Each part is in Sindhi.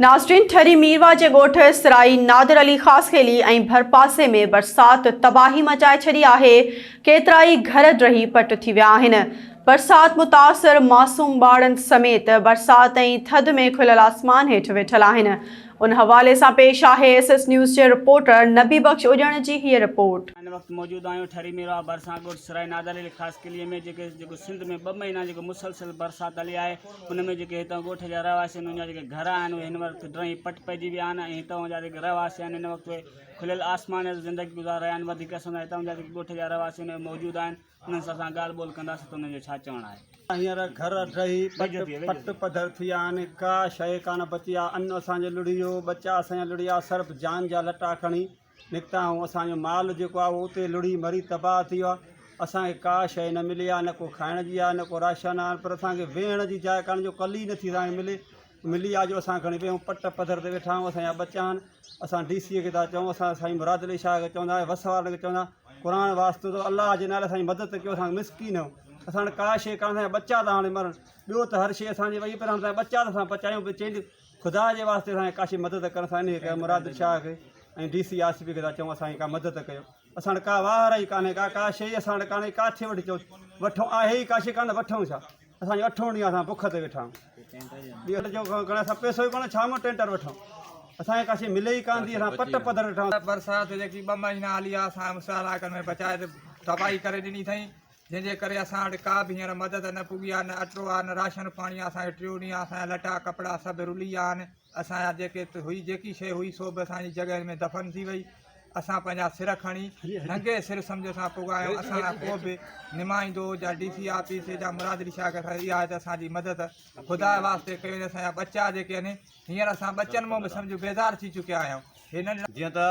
ناظرين ٺري ميرواهه جي ڳوٺ سرائي نادر علي خاصخيلي ۽ ڀرپاسي ۾ برسات تباهي مچائي ڇڏي آهي، ڪيترائي گهر ڊهي پٽ ٿي ويا آهن، برسات متاثر معصوم ٻارڙن سميت برسات ۽ ٿڌ ۾ کليل آسمان هيٺ ويٺل آهن، ان حوالي سان پيش آهي ايس ايس نيوز جي رپورٽر نبي بخش اڄڻ جي هيء رپورٽ. ان وقت موجود آهيون ٺري ميرواهه ڀرسان ڳوٺ سرائي نادر علي خاصخيلي ۾ جيڪو سنڌ ۾ ٻه مهينا جيڪو مسلسل برسات هلي آهي، ان ۾ جيڪي هتان ڳوٺ جا رهواسين انهن جا جيڪي گهر آهن اهي هن وقت ڊرئي پٽ پئجي ويا آهن ۽ هتان جا جيڪي رهواسي آهن هن وقت اهي کليل آسمان هيٺ زندگي گذار رهيا آهن وڌيڪ اسان هتان جا جيڪي ڳوٺ جا رهواسي آهن اهي موجود آهن انهن سان اسان ڳالهه ٻولهه ڪنداسين ته انهن جو ڇا چوڻ آهي هينئر گهر ڊهي پٽ پٽ پڌر ٿي ويا آهن ڪا شيء ڪانه بچي آهي ان اسان جو لڙهيو ٻچا اسان جا لڙهيا سرف جان جا لٽا کڻي نڪتا آهيون اسان جو مال جيڪو آهي اهو اتي لڙهي مري تباهه ٿي ويو آهي اسان کي ڪا شيء نه ملي آهي نه ڪو کائڻ جي آهي نه ڪو راشن آهي پر اسان کي ويهڻ جي جاء ڪانهي جو ڪلي نٿي اسان کي ملي ملي آهي جو اسان کڻي ويهون پٽ پڌر تي ويٺا آهيون اسان جا ٻچا آهن اسان ڊي سيء کي ٿا چئون اسان سائين مراد علي شاهه کي چوندا آهيون وس وارن کي چوندا آهيون قرآن واسطو اٿو الله جي نالي سان مدد ڪيو اسان مسڪين آهيون اسان وٽ ڪا شيء ڪانه اسان جا ٻچا ٿا هاڻي مرن ٻيو ته هر شيء اسان جي وئي پر هاڻي اسان جا ٻچا ٿا اسان پچايون خدا جي واسطي اسان کي ڪاشي مدد ڪر سائين هڪ مراد شاهه کي ۽ ڊي سي آصفي کي ٿا چئون اسان جي ڪا مدد ڪيو اسان وٽ ڪا واهر ئي ڪانهي ڪا ڪا شيء اسان وٽ ڪانهي ڪاٿي وٺي چئون وٺون آهي ئي ڪاشي ڪانه وٺون ڇا اسان جو اٺون ڏينهن اسان بک تي ويٺا آهيون جو کڻ اسان پيسو ئي ڪانه ڇا مون ٽينٽر وٺون اسان کي ڪاشي ملي ئي ڪانه ٿي اسان پٽ پڌر ويٺا آهيون برسات جيڪي ٻه مهينا هلي آ اسان مشالاڪن ۾ بچائي تباهي ڪري ڏني اٿئي جنهن جي ڪري اسان وٽ ڪا به هينئر مدد نه پڳي آهي، نه اٽو آهي، نه راشن پاڻي آهي، اسان کي ٽيون ڏينهن اسان جا لٽا ڪپڙا سڀ رلي ويا آهن، اسان جا جيڪي هئي جيڪي شيء هئي سو به اسان جي جڳهين ۾ دفن ٿي وئي، اسان پنهنجا سر کڻي ننگي سر سمجهه سان پڳا آهيون، اسان لاء ڪو به نمائندو يا ڊي سي آفيس جا مراد علي شاهه کي اسان جي اها آهي ته اسان جي مدد خدا جي واسطي ڪيو وڃي، اسان جا ٻچا جيڪي آهن هينئر اسان ٻچن مون به سمجهه بيزار ٿي چڪيا آهيون. هي ننڍڙا. جيئن ته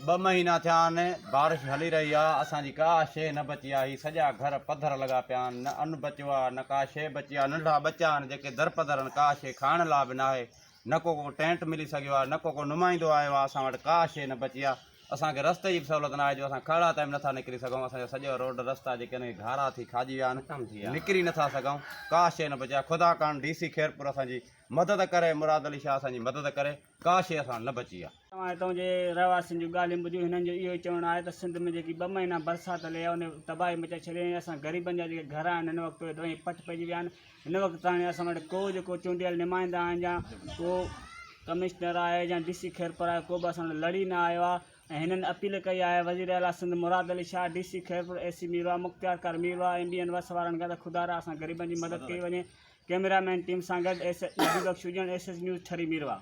ٻه مهينا ٿيا آهن بارش هلي رهي آهي اسان جي ڪا شيء نه بچي آهي هي سڄا گهر پڌر لڳا پيا آهن نه ان بچيو آهي نه ڪا شيء بچي آهي ننڍڙا ٻچا آهن جيڪي درپدر آهن ڪا شيء کائڻ لاء به ناهي نه ڪو ڪو ٽينٽ ملي سگهيو آهي نه ڪو ڪو نمائندو آيو آهي اسان وٽ ڪا شيء نه بچي آهي اسان کي رستي جي به سهولت ناهي جو اسان کهڙا تائين به نٿا نڪري سگهون اسان جا سڄا روڊ رستا جيڪي آهن اهي گهارا ٿي کاڄي ويا آهن نڪري نٿا سگهون ڪا شيء نه بچي آهي خدا ڪرڻ ڊي سي خيرپور اسان جي مدد ڪري مراد علي شاهه اسان جي مدد ڪري ڪا شيء اسان نه بچي آ. توهان هتان جي رهواسين جون ڳالهيون ٻڌيون هنن جو اهو ئي چوڻ آهي ته سنڌ ۾ جيڪي ٻه مهينا برسات هلي آ ان تباهي مچائي ڇڏي ۽ اسان غريبن جا جيڪي گهر آهن هن وقت اهي دوئي ۽ پٺ پئجي ويا آهن هن وقت تاڻي اسان وٽ ڪو جيڪو چونڊيل نمائندا آهن جا ڪو ڪمشنر آهي جا ڊي سي خيرپور آهي ڪو به اسان وٽ لڙي نه آيو آ ۽ هنن اپيل ڪئي آهي وزير اعليٰ Sindh Murad Ali Shah, D C Khairpur, A C Mirwah, مختيار ڪرمي واهه، ايم ڊي اين وس وارن کان ته خدارا اسان غريبن جي مدد ڪئي وڃي، ڪئميرا مين ٽيم سان گڏ S H Nadi Bakhsh Ajan, S H news Thari Mirwah.